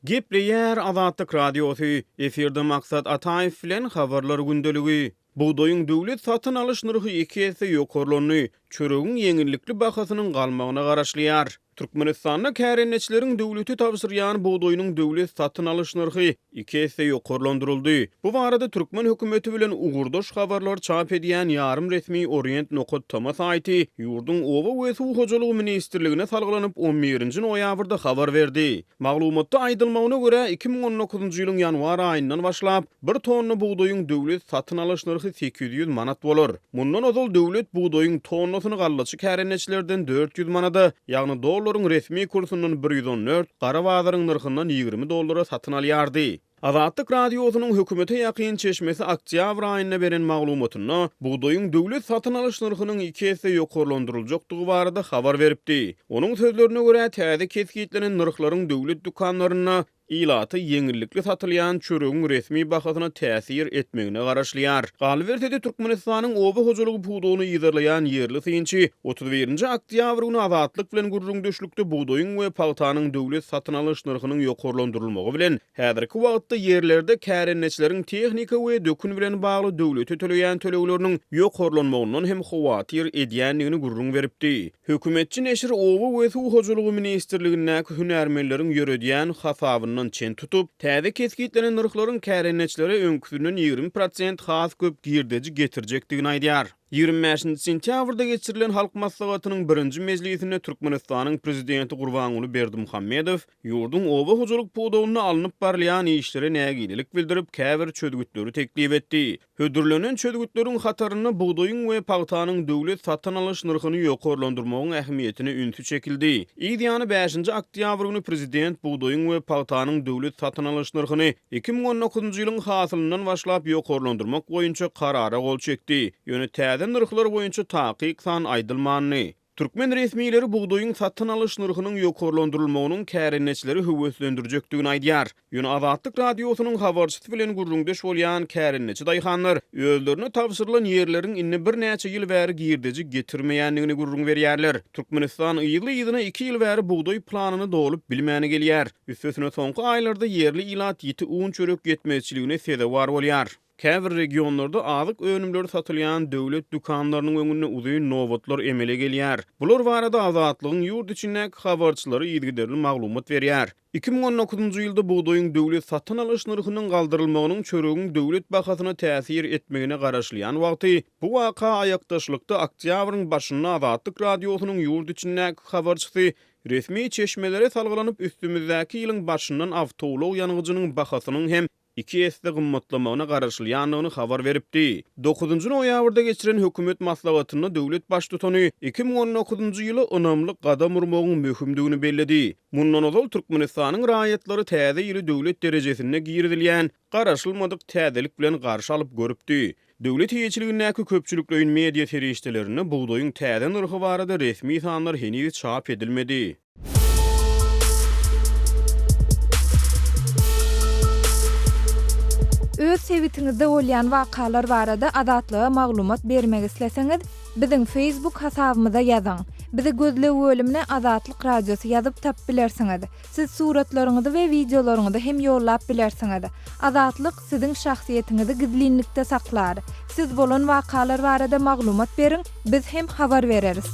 Gepleýär Azatlyk Radiosy, efirde Maksat Ataýew bilen Habarlar gündeligi. Bugdaýyň döwlet satyn alyş nyrhy iki esse ýokarlandy, çöregiň ýeňillikli bahasynyň galmagyna garaşylýar. Türkmenistanda kärendeçileriň döwlete tabşyrýan bugdaýynyň döwlet satyn alyş nyrhy iki esse ýokarlandyryldy. Bu barada türkmen hökümeti bilen ugurdaş habarlar çap edýän ýarym resmi Orient nokat tama saýty ýurduň Oba we suw hojalygy ministrligine salgylanyp on birinji noýabrda habar berdi. Maglumatda aýdylmagyna görä, iki müň on dokuzynjy ýylyň ýanwar aýyndan başlap, bir tonna bugdaýyň döwlet satyn alyş nyrhy sekiz ýüz ýüz manat bolar. Mundan ozal döwlet bugdaýyň tonnasyny gallaçy kärendeçilerden dört ýüz manada, ýagny dollaryň resmi kursyndan bir ýüz on dört, gara bazaryň nyrhyndan ýigrimi dollara satyn alýardy. Azatlyk Radiosynyň hökümete ýakyn çeşmesi oktýabr aýynda beren maglumatynda bugdaýyň döwlet satyn alyş nyrhynyň iki esse ýokarlandyryljakdygy barada habar beripdi. Onuň sözlerine görä, täze kesgitlenen nyrhlaryň döwlet dükanlarynda ilata ýeňillikli satylýan çöregiň resmi bahasyna täsir etmegine garaşylýar. Galyberse-de, Türkmenistanyň oba hojalygy pudagyny yzarlaýan ýerli synçy Otuz birinji oktýabr güni Azatlyk bilen gürrüňdeşlikde bugdaýyň we pagtanyň döwlet satyn alyş nyrhynyň ýokarlandyrylmagy bilen, häzirki wagtda ýerlerde kärendeçileriň tehnika we dökün bilen bagly döwlete töleýän tölegleriniň ýokarlanmagyndan hem howatyr edýändigini gürrüň beripdi. Hökümetçi neşir Oba we suw hojalygy ministrligindäki hünärmenleriň ýöredýän hasabyndan çen tutup, täze kesgitlenen nyrhlaryň kärendeçilere öňküsinden ýigrimi prosent has köp girdeji getirjekdigini aýdýar. Ýigrimi bäşinji sentýabrda geçirilen Halk Maslahatynyň birinji mejlisinde Türkmenistanyň Prezidenti Gurbanguly Berdimuhamedow ýurduň oba hojalyk pudagynda alnyp barylýan işlere nägilelik bildirip, käbir çözgütleri teklip etdi. Hödürlenen çözgütleriň hatarynda bugdaýyň we pagtanyň döwlet satyn alyş nyrhyny ýokarlandyrmagyň ähmiýetine ünsi çekildi. Yz ýany bäşinji oktýabr güni Prezident bugdaýyň we pagtanyň döwlet satyn alyş nyrhyny Iki müň on dokuzynjy ýylyň hasylyndan başlap ýokarlandyrmak boýunça karara gol çekdi, ýöne täze nyrhlar boýunça takyk san aýdylmandy. Türkmen resmileri bugdaýyň satyn alyş nyrhynyň ýokarlandyrylmagynyň kärendeçileri höweslendirjekdigini aýdýar. Ýöne Azatlyk Radiosynyň habarçysy bilen gürrüňdeş bolýan kärendeçi daýhanlar özlerine tabşyrylan ýerleriň indi birnäçe ýyl bäri girdeji getirmeýändigini gürrüň berýärler. Türkmenistan yzly-yzyna iki ýyl bäri bugdaý planyny dolup bilmäni gelýär. Üstesine soňky aýlarda ýerli ilat ýiti un-çörek ýetmezçiligine sezewar bolýar. Käbir regionlarda azyk önümleri satylýan döwlet dükanlarynyň öňünde uzyn nobatlar emele gelýär. Bular barada Azatlygyň ýurt içindäki habarçylary yzygiderli maglumat berýär. Iki müň on dokuzynjy ýylda bugdaýyň döwlet satyn alyş nyrhynyň galdyrylmagynyň çöregiň döwlet bahasyna täsir etmegine garaşylýan wagty, bu waka aýakdaşlykda oktýabryň başynda Azatlyk Radiosynyň ýurt içindäki habarçysy Resmi çeşmelere salgylanyp, üstümizdäki ýylyň başyndan awtoulag ýangyjynyň bahasynyň hem iki esse gymmatlamagyna garaşylýandygyny habar beripdi. Dokuzynjy noýabrda geçiren hökümet maslahatynda döwlet baştutany iki müň on dokuzynjy ýyla ynamly gadam urmagyň möhümdigini belledi. Mundan ozal Türkmenistanyň raýatlary täze ýyly döwlet derejesinde girizilýän garaşylmadyk täzelik bilen garşy alyp görüpdi. Döwlet eýeçiligindäki köpçülikleýin media serişdelerinde bugdaýyň täze nyrhy barada resmi sanlar heniz çap edilmedi. Öz sebitiňizde bolýan wakalar barada Azatlyga maglumat bermek isleseňiz, biziň Facebook hasabymyza ýazyň. Bizi gözleg bölümine Azatlyk Radiosy ýazyp tapyp bilersiňiz. Siz suratlaryňyzy we wideolaryňyzy hem ýollap bilersiňiz. Azatlyk siziň şahsyýetiňizi gizlinlikde saklar. Siz bolan wakalar barada maglumat beriň, biz hem habar bereris.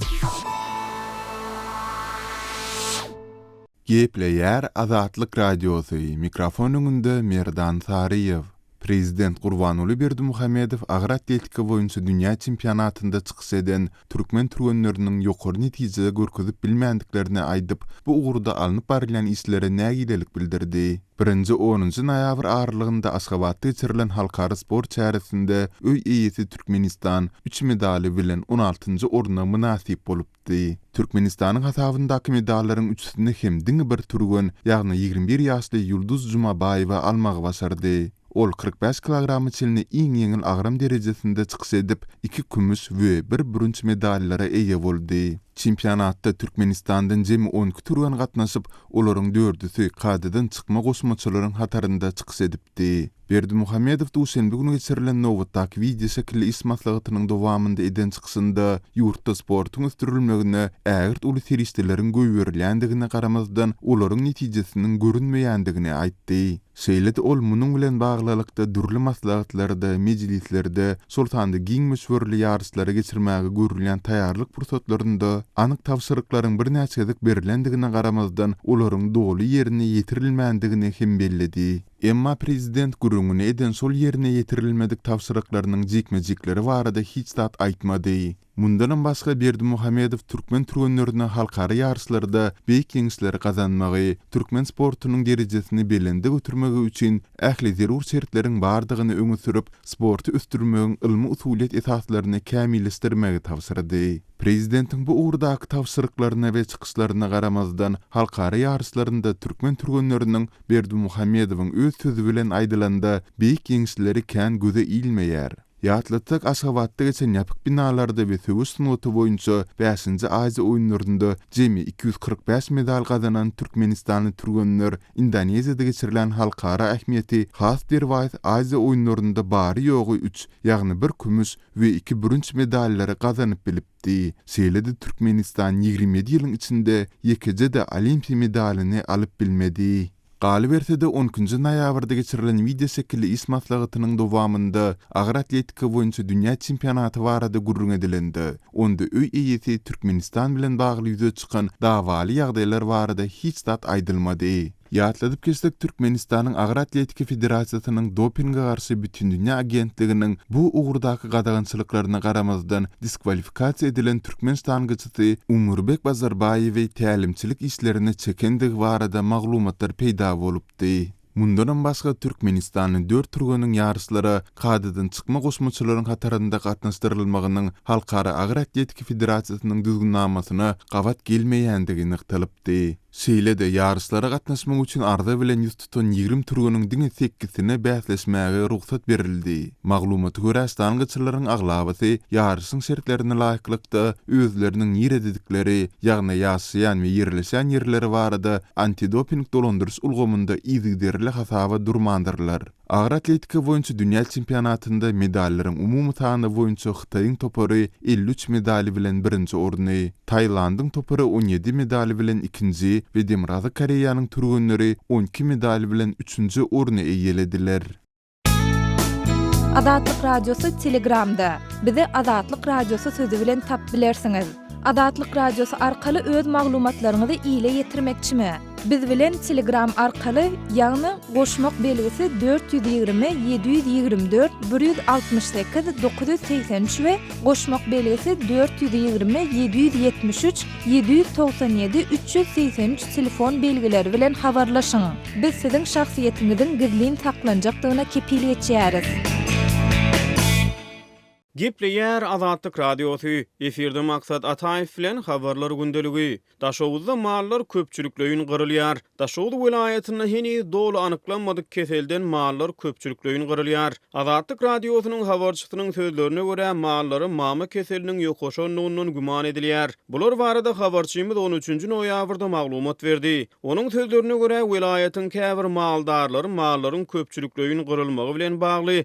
Gepleýär Azatlyk Radiosy, mikrofon öňünde Merdan Saryýew. Prezident Gurbanguly Berdimuhamedow agroatletika boýunça dünýä çempionatynda çykyş eden türkmen türgenleriniň ýokary netije görkezip bilmändiklerini aýdyp, bu ugurda alnyp barylýan işlere nägilelik bildirdi. Birinji onunjy noýabr aralygynda Aşgabatda geçirilen halkara sport çäresinde öý eýesi Türkmenistan üç medaly bilen on altynjy orna mynasyp bolupdy. aýtdy. Türkmenistanyň hasabyndaky medallaryň üçüsini hem diňe bir türgen, ýagny ýigrimi bir ýaşly Ýulduz Jumabaýewa almagy başardy. Ol kyrk bäş kilograma çenli iň ýeňil agram derejesinde çykyş edip, iki kümüş we bir bürünç medallara eýe boldy. Çempionatda Türkmenistandan jemi on iki türgen gatnaşyp, olaryň dördüsi kadadan çykma goşmaçalaryň hatarynda çykyş edipdi. aýtdy. Berdimuhamedow duşenbe güni geçirilen nobatdaky wideoşekilli iş maslahatynyň dowamynda eden çykyşynda ýurtda sportuň ösdürilmegine ägirt uly serişdeleriň goýberilýändigine garamazdan, olaryň netijesiniň görünmeýändigini aýtdy. Şeýle-de ol munuň bilen baglylykda dürli maslahatlarda, mejlislerde, şol sanda giň möçberli ýaryşlary geçirmäge görülýän taýýarlyk pursatlarynda anyk tabşyryklaryň birnäçe gezek berlendigine garamazdan, olaryň doly ýerine ýetirilmändigini hem belledi. Emma prezident gürrüňini eden şol ýerine ýetirilmedik tabşyryklarynyň jikme-jikleri barada hiç zat aýtmady. Mundanam başga Berdimuhamedow türkmen türgenlerine halkara ýaryşlarda beýik ýeňişleri gazanmagy, türkmen sportunyň derejesini belende götermegi üçin ähli zerur şertleriň bardygyny öňe sürüp, sporty ösdürmegiň ylmy-usulyýet esaslaryny kämilleşdirmegi tabşyrdy. Prezidentiň bu ugurdaky tabşyryklaryna we çykyşlaryna garamazdan, halkara ýaryşlarynda türkmen türgenleriniň, Berdimuhamedowyň öz sözi bilen aýdylanda, beýik ýeňişleri kän göze ilmeýär. Ýatlatsak, Aşgabatda geçen ýapyk binalarda we söweş sungaty boýunça bäşinji Aziýa oýunlarynda jemi iki ýüz kyrk bäş medal gazanan türkmenistanly türgenler Indoneziýada geçirilen halkara ähmiýeti has derwaýys Aziýa oýunlarynda bary-ýogy üç, ýagny bir kümüş we iki bürünç medallary gazanyp bilipdi. Şeýle-de Türkmenistan ýigrimi ýedi ýylyň içinde ýekeje-de Olimpiýa medalyny alyp bilmedi. Galyberse-de, on ikinji noýabrda geçirilen wideoşekilli iş maslahatynyň dowamynda agyr atletika boýunça dünýä çempionaty barada gürrüň edilende, onda öý eýesi Türkmenistan bilen bagly ýüze çykan dawaly ýagdaýlar barada hiç zat aýdylmady. Ýatladyp geçsek, Türkmenistanyň Agyr atletika federasiýasynyň Dopinge garşy bütindünýä agentliginiň bu ugurdaky gadagançylyklaryna garamazdan diskwalifikasiýa edilen türkmen ştangaçysy ýolbaşçysy Umurbeck Bazarbaýewi tälimçilik işlerine çekendigi barada maglumatlar peýda bolupdy. Mundanam başga türkmenistanly dört türgeniň ýaryşlara kadadan çykma goşmaçalaryň hatarynda gatnaşdyrylmagynyň Halkara agyr atletika federasiýasynyň düzgünnamasyna gabat gelmeýändigi nygtalypdy. Şeýle-de, ýaryşlara gatnaşmak üçin arza bilen ýüz tutan ýigrimi türgeniň diňe sekizsine bäsleşmäge rugsat berildi. Maglumata görä, stangaçylaryň aglabasy ýaryşyň şertlerine laýyklykda özleriniň nirededikleri, ýagny ýaşaýan we ýerleşen ýerleri barada antidoping dolandyryş ulgamynda yzygiderli hasaba durmandyrlar. Agyr atletika boýunça dünýä çempionatynda medallaryň umumy sany boýunça Hytaýyň topary elli üç medaly bilen birinji orny, Taýlandyň topary on ýedi medaly bilen ikinji we Demirgazyk Koreýanyň türgenleri on iki medaly bilen üçünji orny eýelediler. Azatlyk Radiosy Telegramda, Bizi Azatlyk Radiosy sözi bilen tap bilersiňiz. Azatlyk Radiosy arkaly öz maglumatlaryňyzy ile ýetirmekçimi? Biz bilen Telegram arkaly, ýagny goşmak belgisi dört ýüz ýigrimi, ýedi ýüz ýigrimi dört, bir ýüz altmyş sekiz, dokuz ýüz segsen üç we goşmak belgisi dört ýüz ýigrimi, ýedi ýüz ýetmiş üç, ýedi ýüz togsan ýedi, üç ýüz segsen üç telefon belgileri bilen habarlaşyň. Biz siziň şahsyýetiňiziň gizlin saklanjakdygyna kepil geçýäris. Gepleýär Azatlyk Radiosy, efirde Maksat Ataýew bilen Habarlar gündeligi. Daşoguzda mallar köpçülikleýin gyrylýar. Daşoguz welaýatynda heniz doly anyklanmadyk keselden mallar köpçülikleýin gyrylýar. Azatlyk Radiosynyň habarçysynyň sözlerine görä, mallara mama keseliniň ýokaşanlygyndan güman edilýär. Bular barada habarçymyz on üçünji noýabrda maglumat berdi. Onuň sözlerine görä, welaýatyň käbir maldarlary mallaryň köpçülikleýin gyrylmagy bilen bagly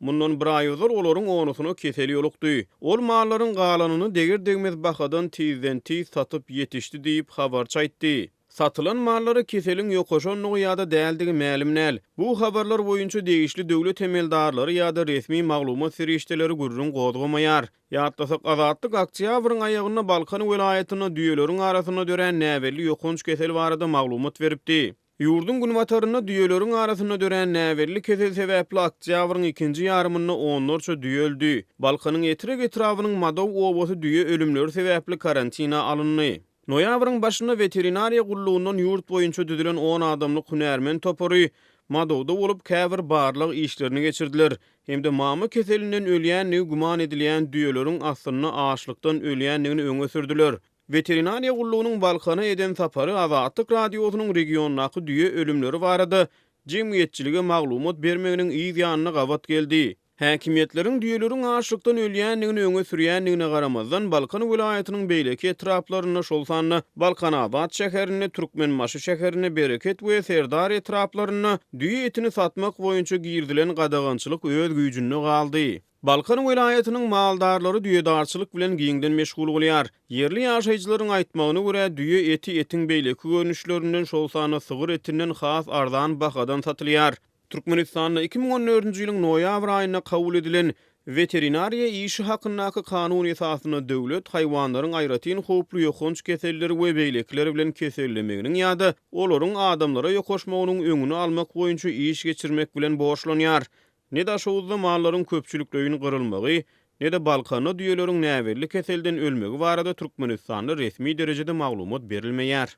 Mundan bir aý ozal olaryň onusyna kesel ýolukdy. Ol mallaryň galanyny deger-degmez bahadan tizden-tiz satyp ýetişdi diýip, habarçy aýtdy. Satylan mallara keseliň ýokaşandygy ýa-da däldigi mälim däl. Bu habarlar boýunça degişli döwlet emeldarlary ýa-da resmi maglumat serişdeleri gürrüň gozgamaýar. Ýatlasak, Azatlyk oktýabryň aýagynda Balkan welaýatynda düýeleriň arasynda dörän näbelli ýokanç kesel barada maglumat beripdi. Ýurduň günbatarynda düýeleriň arasynda dörän näbelli kesel sebäpli oktýabryň ikinji ýarymynda onlarça düýe öldi. Balkanyň Etrek etrabynyň Madow obasy düýe ölümleri sebäpli karantine alyndy. Noýabryň başynda weterinariýa gullugyndan ýurt boýunça düzülen on adamlyk hünärmen topary Madowda bolup käbir barlag işlerini geçirdiler hem-de mama keselinden ölýändigi güman edilýän düýeleriň aslynda açlykdan ölýändigini öňe sürdüler. Weterinariýa gullugynyň Balkana eden sapary Azatlyk Radiosynyň regiondaky düýe ölümleri barada jemgyýetçilige maglumat bermeginiň yz ýanyna gabat geldi. Häkimiýetleriň düýeleriň açlykdan ölýändigini öňe sürýändigine garamazdan, Balkan welaýatynyň beýleki etraplarynda, şol sanda Balkanabat şäherinde, Türkmenbaşy şäherinde, Bereket we Serdar etraplarynda düýe etini satmak boýunça girizilen gadagançylyk öz güýjünde galdy. Balkan welaýatynyň maldarlary düýedarçylyk bilen giňden meşgul bolýar. Ýerli ýaşaýjylaryň aýtmagyna görä, düýe eti etiň beýleki görnüşlerinden, şol sanda sygyr etinden has arzan bahadan satylýar. Türkmenistanda iki müň on dördünji ýylyň noýabr aýynda kabul edilen Weterinariýa işi hakyndaky Kanun esasynda döwlet haýwanlaryň aýratyn howply ýokanç keselleri we beýlekiler bilen kesellemeginiň ýa-da olaryň adamlara ýokaşmagynyň öňüni almak boýunça iş geçirmek bilen borçlanýar. Ne Daşoguzda mallaryň köpçülikleýin gyrylmagy, ne-de Balkanda düýeleriň näbelli keselden ölmegi barada Türkmenistanda resmi derejede maglumat berilmeýär.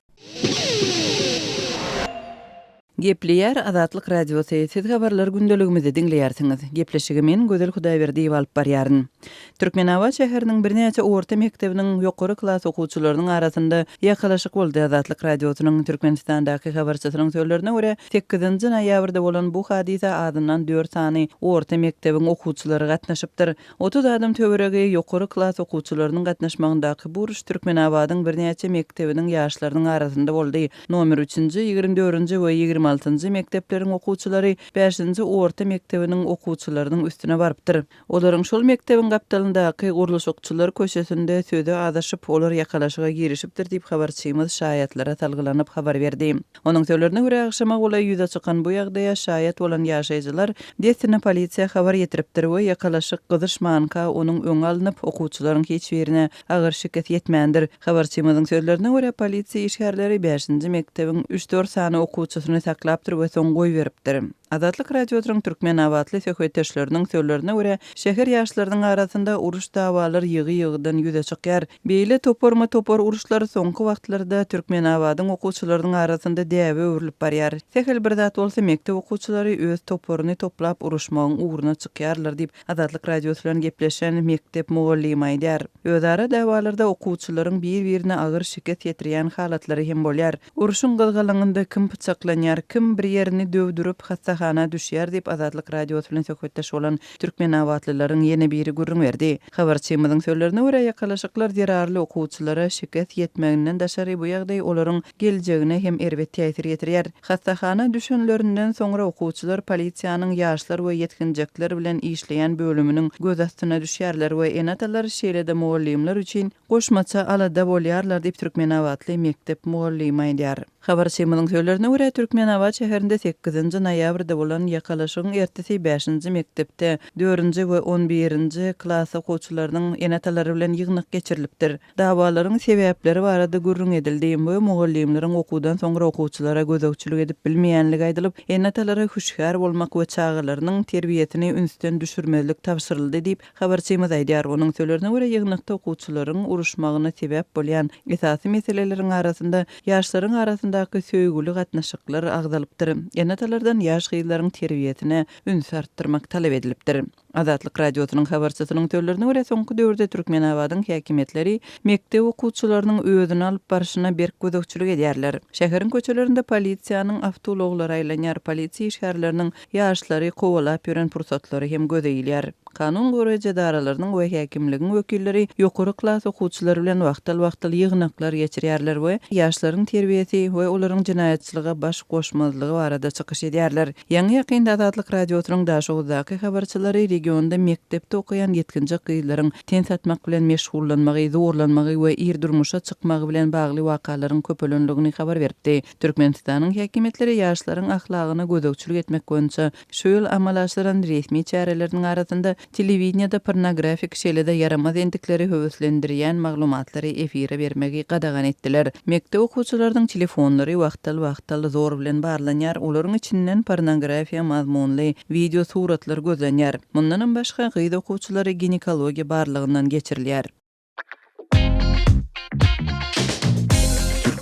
Gepleýär Azatlyk Radiosy, Siz habarlar gündeligimizi diňleýärsiňiz. Gepleşigi men, Gözel Hudaýberdiýewa alyp barýaryn. Türkmenabat şäheriniň birnäçe orta mekdebiniň ýokary klas okuwçylarynyň arasynda ýakalaşyk boldy. Azatlyk Radiosynyň Türkmenistandaky habarçysynyň sözlerine görä, sekizinji noýabrda bolan bu hadysa azyndan dört sany orta mekdebiň okuwçylary gatnaşypdyr. Otuz adam töweregi ýokary klas okuwçylarynyň gatnaşmagyndaky bu uruş Türkmenabadyň birnäçe mekdebiniň ýaşlarynyň arasynda boldy. Nomer üçünji, ýigrimi dördünji we ýigrimi altynjy mekdepleriň okuwçylary bäşinji orta mekdebiniň okuwçylarynyň üstüne barypdyr. Olaryň şol mekdebiň gapdalyndaky Gurluşykçylar köçesinde sözi azaşyp, olar ýakalaşyga girişipdir diýip, habarçymyz şaýatlara salgylanyp habar berdi. Onuň sözlerine görä, agşama golaý ýüze çykan bu ýagdaýa şaýat bolan ýaşaýjylar dessine polisiýa habar ýetiripdir we ýakalaşyk gyzyşmanka onuň öňi alnyp, okuwçylaryň hiç birine agyr şikes ýetmändir. Habarçymyzyň sözlerine görä, polisiýa işgärleri bäşinji mekdebiň üç-dört sany okuwçysyny saklapdyr we soň goýberipdir. Azatlyk Radiosynyň türkmenabatly söhbetdeşleriniň sözlerine görä, şäher ýaşlarynyň arasynda uruş-dawalar ýygy-ýygydan ýüze çykýar. Beýle toparma-topar uruşlar soňky wagtlarda Türkmenabadyň okuwçylarynyň arasynda däbe öwrülip barýar. Sähel bir zat bolsa, mekdep okuwçylary öz toparyny toplap uruşmagyň ugruna çykýarlar diýip, Azatlyk Radiosy bilen gepleşen mekdep mugallymy aýdýar. Özara dawalarda okuwçylaryň bir-birine agyr şikes ýetirýän halatlary hem bolýar. Urşuň gyzgalaňynda kim pyçaklanýar, kim bir ýerini döwdürip, hassahana düşýär diýip, Azatlyk Radiosy bilen söhbetdeş bolan türkmenabatlylaryň ýene biri gürrüň berdi. Habarçymyzyň sözlerine görä, ýakalaşyklar zerarly okuwçylara şikes ýetmeginden daşary bu ýagdaý olaryň geljegine hem erbet täsir ýetirýär. Hassahana düşenlerinden soňra okuwçylar polisiýanyň ýaşlar we ýetginjekler bilen işleýän bölüminiň göz astyna düşýärler we ene-atalar, şeýle-de mugallymlar üçin goşmaça alada bolýarlar diýip, türkmenabatly mekdep mugallymy aýdýar. Habarçymyzyň sözlerine görä, Türkmenabat şäherinde sekizinji noýabrda bolan ýakalaşygyň ertesi bäşinji mekdepde dördünji we on birinji klas okuwçylarynyň ene-atalary bilen ýygnak geçirilipdir. Dawalaryň sebäpleri barada gürrüň edildi we mugallymlaryň okuwdan soňra okuwçylara gözegçilik edip bilmeýänligi aýdylyp, ene-atalara hüşgär bolmak we çagalarynyň terbiýesini ünsden düşürmezlik tabşyryldy diýip, habarçymyz aýdýar. Onuň sölerine görä, ýygnakda okuwçylaryň uruşmagyna sebäp bolýan esasy meseleleriň arasynda ýaşlaryň arasyndaky söýgüli gatnaşyklar agzalypdyr, ene-atalardan ýaş gyzlaryň terbiýesine ünsi artdyrmak talap edilipdir. Azatlyk Radiosynyň habarçysynyň sözlerine görä, soňky döwürde Türkmenabadyň häkimiýetleri mekdep okuwçylarynyň özüni alyp barşyna berk gözegçilik edýärler. Şäheriň köçelerinde polisiýanyň awtoulaglary aýlanýar, polisiýa işgärleriniň ýaşlary kowalap ýören pursatlary hem göze ilýär. Kanun goraýjy edaralarynyň we häkimligiň wekilleri ýokary klas okuwçylary bilen wagtal-wagtal ýygnaklar geçirýärler we ýaşlaryň terbiýesi we olaryň jenaýatçylyga baş goşmazlygy barada çykyş edýärler. Ýaňy-ýakynda Azatlyk Radiosynyň Daşoguzdaky habarçylary regionda mekdepde okaýan ýetginjek gyzlaryň ten satmak bilen meşgullanmagy, zorlanmagy we ir durmuşa çykmagy bilen bagly wakalaryň köpelendigini habar beripdi. Türkmenistanyň häkimiýetleri ýaşlaryň ahlagyna gözegçilik etmek boýunça şu ýyl amala aşyran resmi çäreleriniň arasynda Telewideniýede pornografik, şeýle-de ýaramaz endikleri höweslendirýän maglumatlary efire bermegi gadagan etdiler. Mekdep okuwçylarynyň telefonlary wagtal-wagtal zor bilen barlanýar, olaryň içinden pornografiýa mazmunly wideo suratlar gözlenýär. Mundanam başga, gyz okuwçylary ginekologiýa barlagyndan geçirilýär.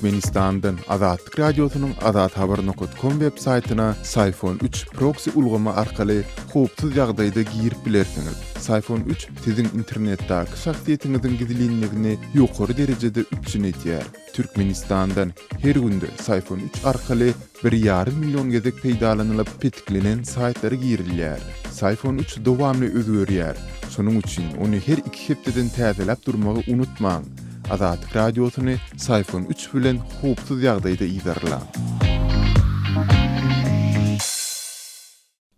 Türkmenistandan Azatlyk Radiosynyň Azat Haber Nokotkom web saýtyna Sayfon 3 proksi ulgamy arkaly howpsuz ýagdaýda girip bilersiňiz. Sayfon 3 siziň internetdäki şahsyýetiňiziň gizlinligini ýokary derejede üpjün edýär. Türkmenistandan her günde Sayfon 3 arkaly Bir ýarym million gezek peýdalanylyp petiklenen saýtlara girilýär. Syfon üç dowamly özgerýär, şonuň üçin ony her iki hepdeden täzeläp durmagy unutmaň! Azatlyk Radiosyny Syfon üç bilen howpsuz ýagdaýda yzarlaň!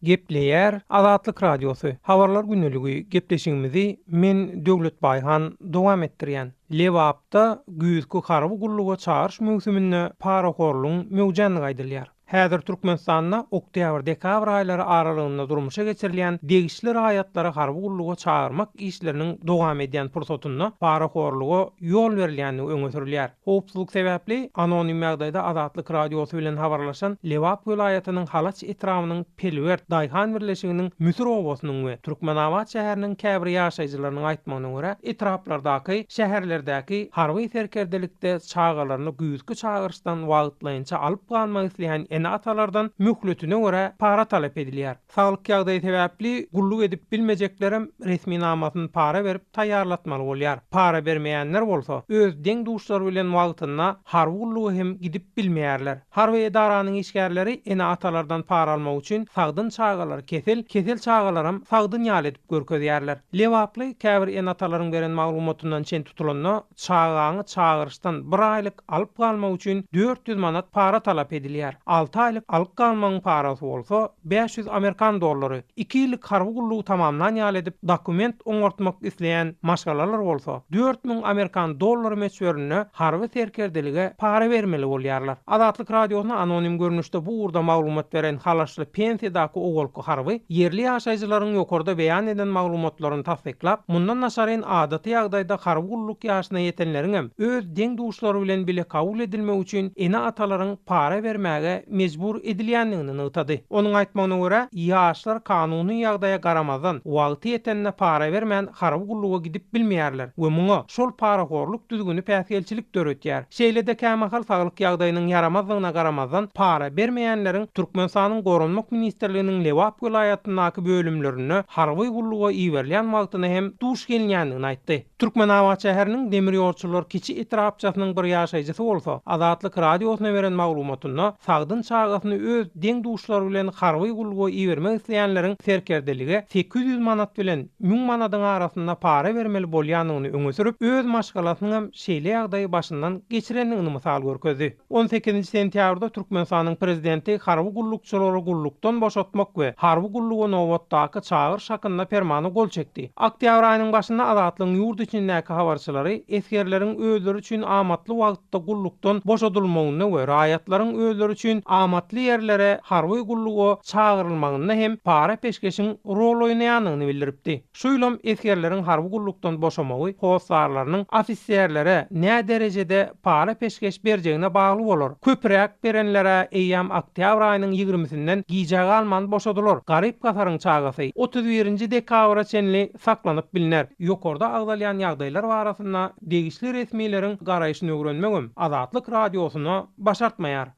Gepleýär Azatlyk Radiosy, Habarlar güneligi gepleşigimizi men Döwlet Baýhan dowam etdirýän. Lebapda güýzki harby gulluga çagyryş möwsüminde parahorlugyň möwjändigi aýdylýar. Häzir Türkmenistanda oktýabr-dekabr aýlary aralygynda durmuşa geçirilýän degişli raýatlary harby gulluga çagyrmak işleriniň dowam edýän pursatynda parahorluga ýol berilýändigi öňe sürülýär. Howpsuzlyk sebäpli, anonim ýagdaýda Azatlyk Radiosy bilen habarlaşan Lebap welaýatynyň Halaç etrabynyň Pelwert daýhan birleşiginiň Müsür obasynyň we Türkmenabat şäheriniň käbir ýaşaýjylarynyň aýtmagyna görä, etraplardaky, şäherlerdäki harby serkerdelikde çagalaryny güýzki çagyryşdan wagtlaýynça alyp galmak isleýän ene-atalardan möhletine görä para talap edilýär. Saglyk ýagdaýy sebäpli gulluk edip bilmejeklerem resminamasyny para berip taýýarlatmaly bolýar. Para bermeýänler bolsa, öz deň-duşlary bilen wagtynda harby gulluga hem gidip bilmeýärler. Harby edaranyň işgärleri ene-atalardan para almak üçin sagdyn çagalary kesel, kesel çagalaram sagdyn ýaly edip görkezýärler. Lebaply käbir ene-atalaryň beren maglumatyndan çen tutulanda, Çagaňy çagyryşdan bir aýlyk alyp galmak üçin dört ýüz manat para talap edilýär, alty aýlyk alyk galmagyň parasy bolsa, bäş ýüz amerikan dollary, iki ýyllyk harby gullugy tamamlan ýaly edip dokument oňartmak isleýän maşgalalar bolsa, dört müň amerikan dollary möçberinde harby serkerdelige para bermeli bolýarlar. Azatlyk Radiosyna anonim görnüşde bu ugurda maglumat beren Halaşly pensiýadaky ogulky Bu harby ýerli ýaşaýjylaryň ýokarda beýan eden maglumatlaryny tassyklap, mundan daşaryn adaty ýagdaýda harby gulluk ýaşyna ýetenleriňem öz deň-duşlary bilen bile kabul edilmegi üçin ene-atalaryň para bermäge mejbur edilýändigini nygtady. Onuň aýtmagyna görä, ýaşlar kanuny ýagdaýa garamazdan, wagty ýetende para bermän harby gulluga gidip bilmeýärler we muňa şol parahorluk düzgüni päsgelçilik döretýär. Şeýle-de kämahal saglyk ýagdaýynyň ýaramazdygyna garamazdan, para bermeýänleriň Türkmenistanyň Goranmak ministrliginiň Lebap welaýatyndaky bölümlerinde harby gulluga iberilýän wagtyna hem duş gelinýändigini aýtdy. Türkmenabat şäheriniň Demirýolçular kiçi etrapçasynyň bir ýaşaýjysy bolsa, Azatlyk Radiosyna beren maglumatynda, sagdyn çagasyny öz deň-duşlary bilen harby gulluga ibermek isleýänleriň serkerdelige sekiz ýüz manat bilen müň manadyň arasynda para bermeli bolýandygyny öňe sürüp, öz maşgalasynyňam şeýle ýagdaýy başyndan geçirendigini mysal görkezdi. On sekizinji sentýabrda Türkmenistanyň Prezidenti harby gullukçylary gullukdan boşatmak we harby gulluga nobatdaky çagyryş hakynda Permana gol çekdi. Oktýabr aýynyň başynda Azatlygyň ýurt içindäki habarçylary esgerleriň özleri üçin amatly wagtda gullukdan boşadylmagynda we raýatlaryň özleri üçin amatly ýerlere harby gulluga çagyrylmagynda hem para-peşgeşiň rol oýnaýandygyny bildiripdi. Şu ýylam esgerleriň harby gullukdan boşamagy hossarlarynyň ofiserlere näderejede para-peşgeş berjegine bagly bolar. Köpüräk berenler-ä eýýäm oktýabr aýynyň ýigrimisinden gijä galman boşadylar. Garyp-gasaryň çagasy otuz birinji dekabra çenli saklanyp bilner. Ýokarda agzalýan ýagdaýlar barasynda degişli resmileriň garaýşynyögrenmegem Azatlyk Radiosyna başartmaýar.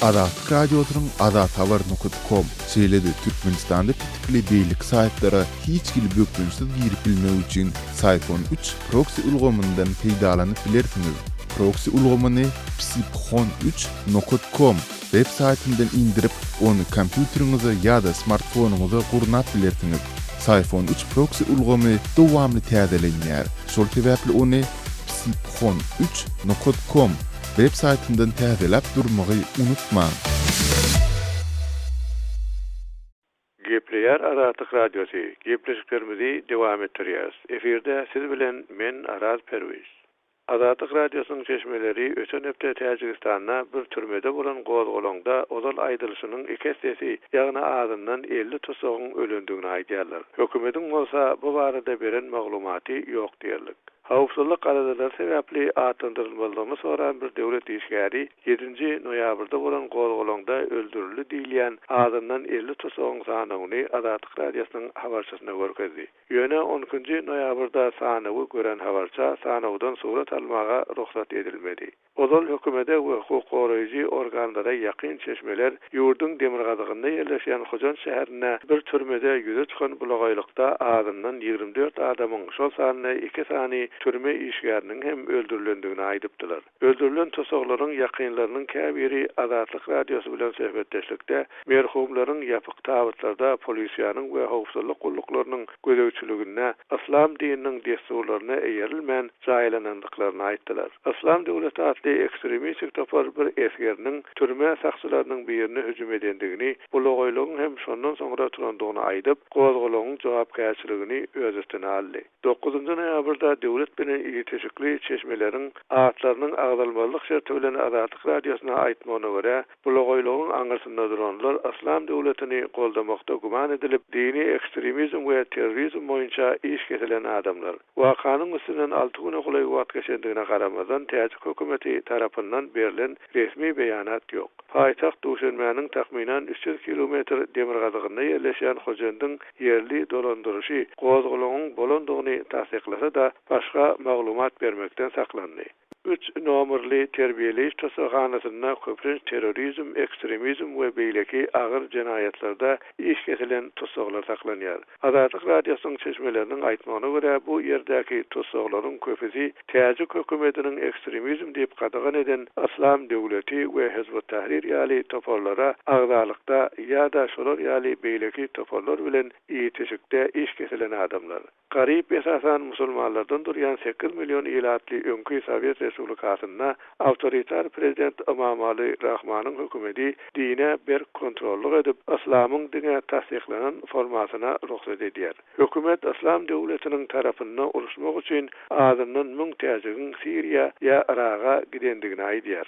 Azatlyk Radiosynyň azathabar nokot kom, şeýle-de Türkmenistanda pitikli beýleki saýtlara hiç hili bökdençsiz girip bilmek üçin Syphon üç proksi ulgamyndan peýdalanyp bilersiňiz. Proksi ulgamyny psipkhon üç nokot kom. Web saýtyndan indirip, ony kompýuteriňize ýa-da smartfonyňyza gurnap bilersiňiz. Syphon üç proksi ulgamy dowamly täzelenýär, şol sebäpli ony psiphon üç nokat kom web saýtyndan täzeläp durmagy unutmaň. Gepleýär Azatlyk Radiosy, gepleşiklerimizi dowam etdirýäris. Efirde siz bilen men Araz Perwiz. Azatlyk Radiosynyň çeşmeleri öten hepde Täjigistanda bir türmede bolan gozgalaňda ozal aýdylyşynyň iki essesi, ýagny azyndan elli tussagyň ölendigini aýdýarlar. Hökümetiň bolsa bu barada beren maglumaty ýok diýerlik. Howpsuzlyk aladalary sebäpli atlandyrylmazlygyny soran bir döwlet işgäri, Ýedinji noýabrda bolan gozgalaňda öldürildi diýilýän azyndan elli tusagyň sanawyny Azatlyk Radiosynyň habarçysyna görkezdi. Ýöne on ikinji noýabrda sanawy gören habarça sanawdan surat almaga rugsat edilmedi. Ozal hökümede we hukuk goraýjy organlara ýakyn çeşmeler ýurduň demirgazygynda ýerleşýän Hojanç şäherinde bir türmede ýüze çykan bulagaýlykda azyndan ýigrimi dört adamyň, şol sanda iki sany türme işgäriniň hem öldürilendigini aýdypdylar. Öldürilen tussaglaryň ýakynlarynyň käbiri Azatlyk Radiosy bilen söhbetdeşlikde merhumlaryň ýapyk tabytlarda polisiýanyň we howpsuzlyk gulluklarynyň gözegçiliginde yslam dininiň dessurlaryna eýerilmän jaýlanandyklaryny aýtdylar. Yslam döwleti atly ekstremistik topar bir esgeriniň türme sakçylarynyň birine hüjüm edendigini, bulagaýlygyň hem şondan soňra turandygyny aýdyp, gozgalaňyň jogapkärçiligini öz üstüne aldy. Dokuzynjy noýabrda döwlet bilen ilişikli çeşmeleriň atlarynyň agzalmazlyk şerti bilen Azatlyk Radiosyna aýtmagyna görä, bulagoýlugyň aňyrsynda duranlar Yslam döwletini goldamakda güman edilip, dini ekstremizm we terrorizm boýunça iş kesilen adamlar. Wakanyň üstünden alty güne golaý wagt geçendigine garamazdan täjik hökümeti tarapyndan berlen resmi beýanat ýok. Paýtagt Duşenbäniň takmynan üç ýüz kilometr demirgazygynda ýerleşýän Hojendiň ýerli dolandyryşy gozgalaňyň bolandygyny tassyklasa-da, başga maglumat bermekden saklandy. Üç nomerli terbiýeleýiş tussaghanasyna köplenç terrorizm, ekstremizm we beýleki agyr jenaýatlarda iş kesilen tussaglar saklanýar. Azatlyk Radiosynyň çeşmeleriniň aýtmagyna görä, bu ýerdäki tussaglaryň köpüsi täjik hökümetiniň ekstremizm diýip gadagan eden Yslam döwleti we Hizb ut-Tahrir ýaly toparlara agzalykda ýa-da şolar ýaly beýleki toparlar bilen itişikde iş kesilen adamlar. Garyp esasan musulmanlardan durýan sekiz million ilatly öňki Sowet Respublikasynda Awtoritar prezident Ymamaly Rahmanyň hökümeti dine berk kontrollyk edip, yslamyň diňe tassyklanan formasyna rugsat edýär. Hökümet Yslam döwletiniň tarapynda uruşmak üçin azyndan müň täjigiň Siriýa ýa Yraga gidendigini aýdýar.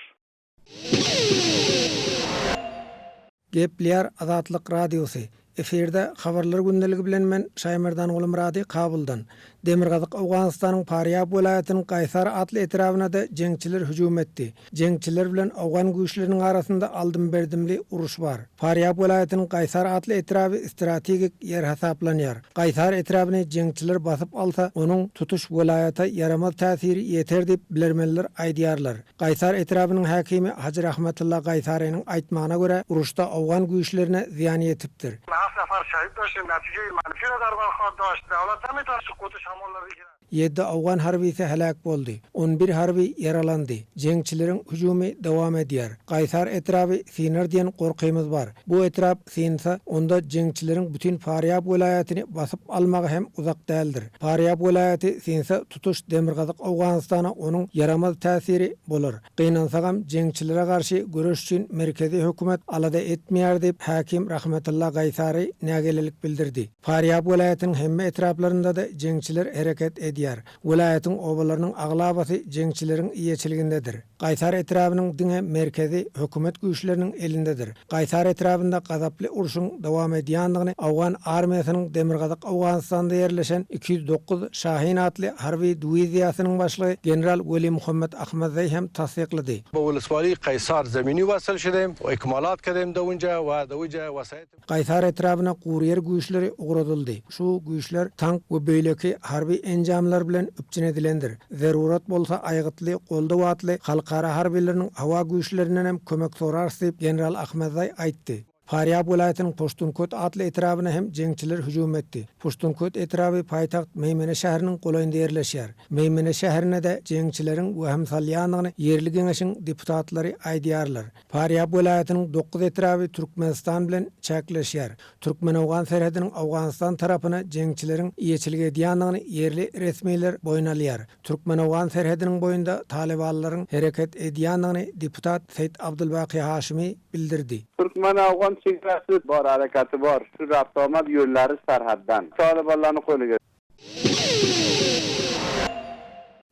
Gepleýär Azatlyk Radiosy, Efirde Habarlar gündeligi bilen men Şaýmerdan Gulumyrady Kabuldan. Demirgazyk Owganystanyň Parýab welaýatynyň Gaýsar atly etrabynada jeňçiler hüjüm etdi. Jeňçiler bilen owgan güýçleriniň arasynda aldym-berdimli uruş bar. Parýab welaýatynyň Gaýsar atly etraby strategik ýer hasaplanýar. Gaýsar etrabyny jeňçiler basyp alsa, onuň tutuş welaýata ýaramaz täsiri ýeter diýip, bilermenler aýdýarlar. Gaýsar etrabynyň häkimi Hajy Rahmatulla Gaýsarynyň aýtmagyna görä, uruşda owgan güýçlerine zyýan ýetipdir. Has sapar şähit bolşy Mäti Jeýmany Firuz Arban Hordoş, Dawlat Hamydow Sukuty şamollady Iran. Ýedi owgan harbysy heläk boldy, on bir harby ýaralandy. Jeňçileriň hüjümi dowam edýär. Gaýsar etraby synar diýen gorkymyz bar. Bu etrap synsa, onda jeňçileriň bütin Farýab welaýatyny basyp almagy hem uzak däldir. Farýab welaýaty synsa, tutuş Demirgazyk Owganystana onuň ýaramaz täsiri bolar. Gynansagam, jeňçilere garşy göreş üçin merkezi hökümet alada etmeýär diýip, häkim Rahmetylla Gaýsary nägilelik bildirdi. Farýab welaýatynyň hemme etraplarynda-da jeňçiler hereket edýär. Welaýatyň obalarynyň aglabasy jeňçileriň eýeçiligindedir. Gaýsar etrabynyň diňe merkezi hökümet güýçleriniň elindedir. Gaýsar etrabynda gazaply urşuň dowam edýändigini Owgan armiýasynyň Demirgazyk Owganystanda ýerleşen iki ýüz dokuz Şahin atly harby dwiziýasynyň başlygy general Welimuhammet Ahmadzeý hem tassyklady. Bowulus Wali Gaýsar zemini wasyl şide, ekmalat kezem dowunca, wa dowija wasayt. Gaýsar etrabyna guryýer güýçleri ugradyldy. Şu güýçler tank we beýleki harby enjamlar bilen üpjün edilendir. Zerurat bolsa aýgytly goldaw atly halkara harbylarynyň howa güýçlerinden hem kömek sorarys diýip, general Ahmedzaý aýtdy. Farýab welaýatynyň Poştunköt atly etrabyna hem jeňçiler hüjüm etdi. Poştunköt etraby paýtagt Meýmene şäheriniň golaýynda ýerleşýär. Meýmene şäherine-de jeňçileriň wehim salýandygyny ýerli geňeşiň deputatlary aýdýarlar. Farýap welaýatynyň dokuz etraby Türkmenistan bilen çäkleşýär. Türkmen-owgan serhediniň Owganystan tarapyna jeňçileriň eýeçilik edýändigini ýerli resmiler boýun alýar. Türkmen-owgan serhediniň boýunda talybanlaryň hereket edýändigini deputat Seýt Abdulbaki Haşimi bildirdi. Türkmen-owgan çegarasy bor, herekaty bor. Çünki awtomat ýöllary serhetden talybanlarynyň goýnuna geçdi.